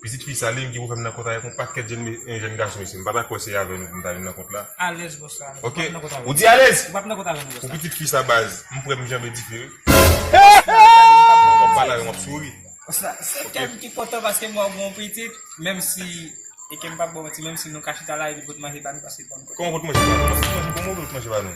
Pitit fi Salim ki pou fèm nan kont avèk yon pakèt jèn gason isi m pa ta kwè se avè nou pou m ta vin nan kont la ok ou di alèz pou pitit fi sa baz m prè m janbe dife wi wap pale avèm wap souri kòman pou t manje pa nou.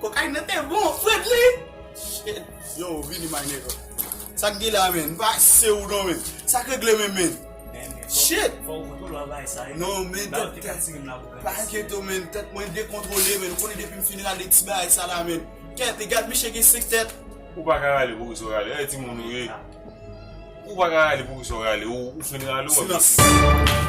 Kokayin nan te bon fret li. Shit. Yo vini my nigga. Sak gen la men. M pa se ou non men. Sak regle men men. Shit. Fok ou tou lwa bay sa e. Non men. Ba ou te ka tirem la pou. Pa enkyete w men. Tet mwen dekontrole men. Ou konnen depi m fin rale ti bagay sa la men. Tet e gad misye gen 5 tet. Ou pa ka rale poukisa w rale. E ti moun ou ye. Ou pa ka rale poukisa w rale. Ou fin rale ou wap vin. Silans.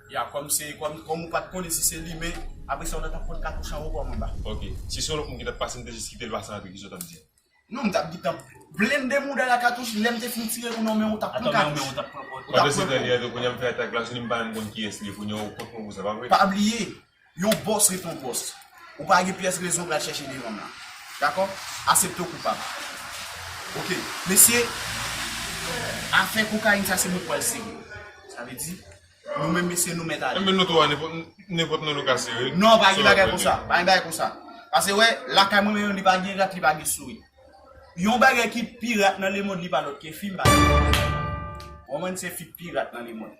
Ya kòm se kòm kòm ou pat konnen si se li men apre sa ou ta tap pot katouch anwo kòm anba. Ok. Si se yon lòt moun ki tap pase m te jis kite l pase antre kisa w tap di? Non m tap gentan blende mouda l a katouch lèm te fin tire ou nan menw ou tap pran katouch. Pandan se tan li antre kounya m fè atak la sou li m pa menm konn kiyès li ye kounya ou kont mwen pou sa pa vre? Pa bliye Yon boss ret yon boss. Ou pa gen pyès rezon pral chèche deranm la. Dakò? Asepte w koupab. Ok. Mesye, afè kokayin sa se mwen k pral sere. Sa vle di, nou menm mesye nou mèt ale. Enben nou tou a nenpòt nan nou ka sere. Non, pa gen bagay konsa. Pa gen bagay konsa. Pase wè, lakay mwen menm li pa gen rat, li pa gen sourit. Yon bagay ki pi rat nan lemond li pa lòt ke fi, m pa gen. Ou konprann? Se fi k pi rat nan lemond.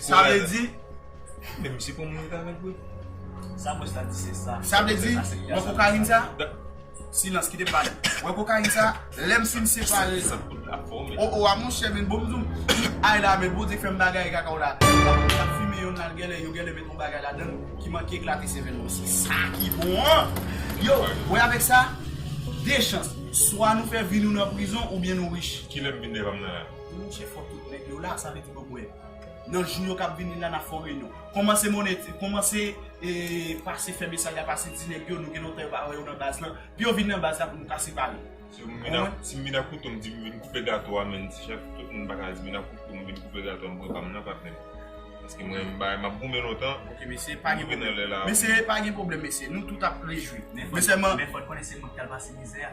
Sa vle di. Men misye pran moun egal avèk vre. Sa bòs la di se sa. Sa vle di, wè kokayin sa? Silans, kite m pale. Wè kokayin sa, lè m fin separe. O o a monchè men bon m di w, ay la men Bondye fè m bagay kaka w la. Lè m fimen yonn la, genlè yo genlè met yon bagay ladan l ki manke eklate sèvèl mwen. Se sa ki bon an! Yo, wè avèk sa, de chans. Swa nou fè vi nou nan prizon oubyen nou rich. Kilè m vin devanm nan la? Mnje fò tout nèg yo la sa vle di bòbwè nan jou yo kap vini la nap fè yon reyinyon kòmanse mone kòmanse pase fè mesaj la pase di nèg yo nou gen lontan yo pa wè yo nan baz lan pou yo vin nan baz la pou nou ka separe si m vin ak kouto m di m vin koupe gato a menn ti chèf tout moun paka di m vin ak kouto m vin koupe gato a m pran pa m nan pa plen paske m renmen bagay map goumen lontan ok mesye pa gen pwoblèm mesye pa gen pwoblèm mesye nou tout ap rejwi men sèlman men fòt konnen se mwen ki tal pase mizè a.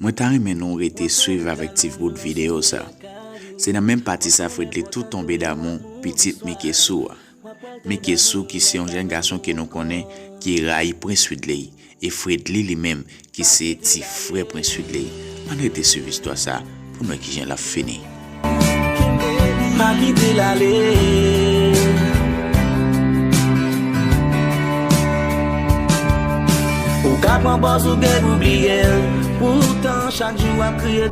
Mwen ta renmen nou rete swiv avèk ti bout videyo sa. Se nan menm pati sa Fredly tou tonbe damou pitit Mike Sou a. Mike Sou ki se yon jèn gason ke nou konnen ki rayi Prince Fridley e Fredly li menm ki se ti frè Prince Fridley. Ann rete swiv istwa sa. Pou n wè kijan l ap fini. Kenbe li pa kite l ale. Ou ka pran pòz ou gen pou bliye l. Poutan chak jou w ap kriye.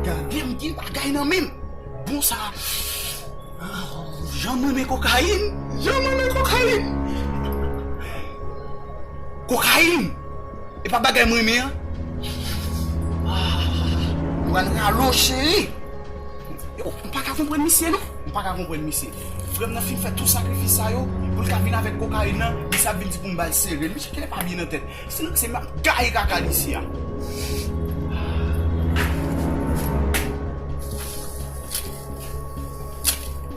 Gade m gen bagay nan men m. Bon sa Jan m renmen kokayin. Jan m renmen kokayin. Kokayin Epa bagay m renmen an. Ahh Luan ralo cheri. Yow m paka konprann misye non. M paka konprann misye. Frè m nan fin fè tout sakrifis sa yo pou l ka vin avèk kokayin nan, misye ap vin di pou m ba l sere l. Misye genlè pa byen nan tèt. Si m se m ap gaye kaka l isi a. Ahh.